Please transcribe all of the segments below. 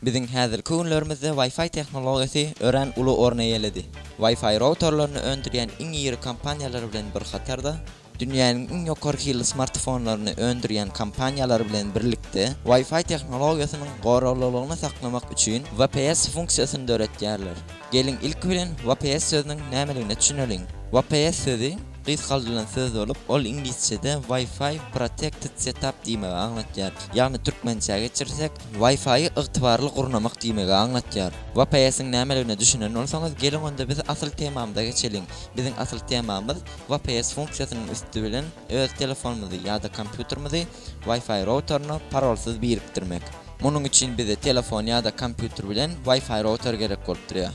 Biziň häzirki günlerimizde Wi-Fi tehnologiýasy örän uly orun eýeledi. Wi-Fi routerlerini öndürýän iň iri kompaniýalar bilen bir hatarda, dünýäniň iň ýokary hilli smartfonlaryny öndürýän kompaniýalar bilen birlikde Wi-Fi tehnologiýasynyň goraglylygyny saklamak üçin VPS funksiýasyny döretýärler. Geliň ilki bilen VPS sözüniň nämeligine düşüneliň. VPS sözi gysgaldyrylan söz bolup, ol iňlisçede Wi-Fi Protected Setup diýmegi aňlatýar. Ýagny türkmençä geçirsek, Wi-Fi-i ygtybarly gurnamak diýmegi aňlatýar. VPS-iň nämeligine düşünen bolsaňyz, geliň onda biz asyl temamyza geçeliň. Biziň asyl temamyz VPS funksiýasynyň üsti bilen öz telefonymyzy ýa-da kompýuterimizi Wi-Fi routeryny parolsyz birikdirmek. Munuň üçin bize telefon ýa-da kompýuter bilen Wi-Fi router gerek bolup durýar.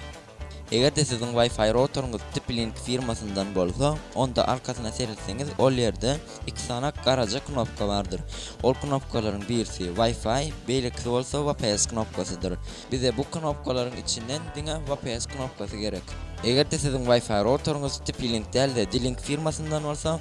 Eger-de siziň Wi-Fi routeryňyz TP-Link firmasyndan bolsa, onda arkasyna seretseňiz, ol ýerde iki sany garaja knopka bardyr. Ol knopkalaryň birisi Wi-Fi, beýlekisi bolsa VPS knopkasydyr. Bize bu knopkalaryň içinden diňe VPS knopkasy gerek. Eger-de siziň Wi-Fi routeryňyz TP-Link däl-de, D-Link firmasyndan bolsa,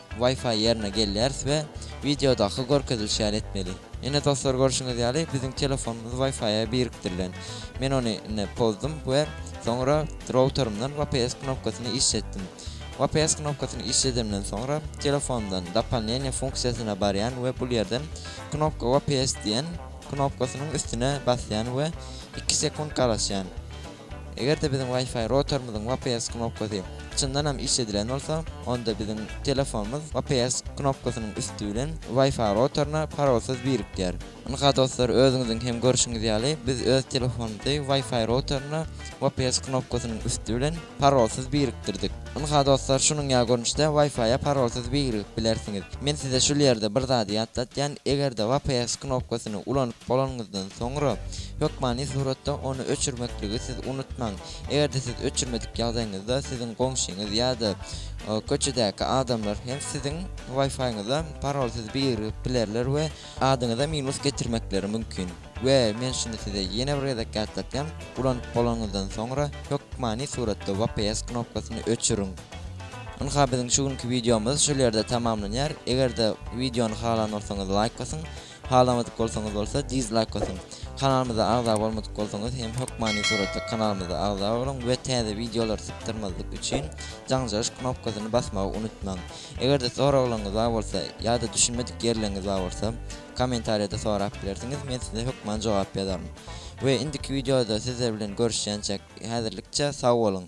Wi-Fi ýerine gelýäris we wideodaky görkezilişi ýaly etmeli. Ine dostlar görşüňiz ýaly biziň telefonymyz Wi-Fi-a birikdirilen. Men ony ine pozdum we soňra routerymdan VPS knopkasyny işletdim. VPS knopkasyny işledemden soňra telefondan Dopollnenie funksiýasyna barýan we bul ýerden knopka VPS diýen knopkasynyň üstüne basýan we iki sekunt garaşýan. Eger-de biziň Wi-Fi routerimiziň VPS knopkasy çyndan hem iş edilen bolsa, onda biziň telefonymyz VPS knopkasynyň üsti bilen Wi-Fi routeryna parolsyz birikýär. Ynha dostlar, özüňiziň hem görşüňiz ýaly, biz öz telefonymyzy Wi-Fi routeryna VPS knopkasynyň üsti bilen parolsyz birikdirdik. Ynha dostlar şunuň ýaly görnüşde Wi-Fi-a parolsyz birigip bilersiňiz. Men size şul ýerde bir zady ýatlatýan, eger-de VPS knopkasyny ulanyp bolanyňyzdan soňra, hökmany suratda ony öçürmekligi siz unutmaň. Eger-de siz öçürmedik ýagdaýyňyzda siziň goňşyňyz ýa-da köçedäki adamlar hem siziň Wi-Fi-ňyza parolsyz birigip bilerler we adyňyza minus getirmekleri mümkin. We men şuny size ýene bir gezek ýatlatýan, ulanyp bolanyňyzdan soňra hökmany suratda VPS knopkasyny öçüriň. Ynha biziň şu günki wideomyz şol ýerde tamamlanýar. Eger-de wideony halan bolsaňyz laýk basyň, halamadyk bolsaňyz bolsa dizlaýk basyň. Kanalymyza agza bolmadyk bolsaňyz hem hökmany suratda kanalymyza agza boluň we täze wideolary sypdyrmazlyk üçin jaňjaryş knopkasyny basmagy unutmaň. Eger-de soraglaryňyz bar bolsa ýa-da düşünmedik ýerleriňiz bar bolsa, Kommentariýada sorap bilersiňiz, men size hökman jogap ýazaryn. We indiki wideoda sizler bilen görüşýänçäk, häzirlikçe sag boluň!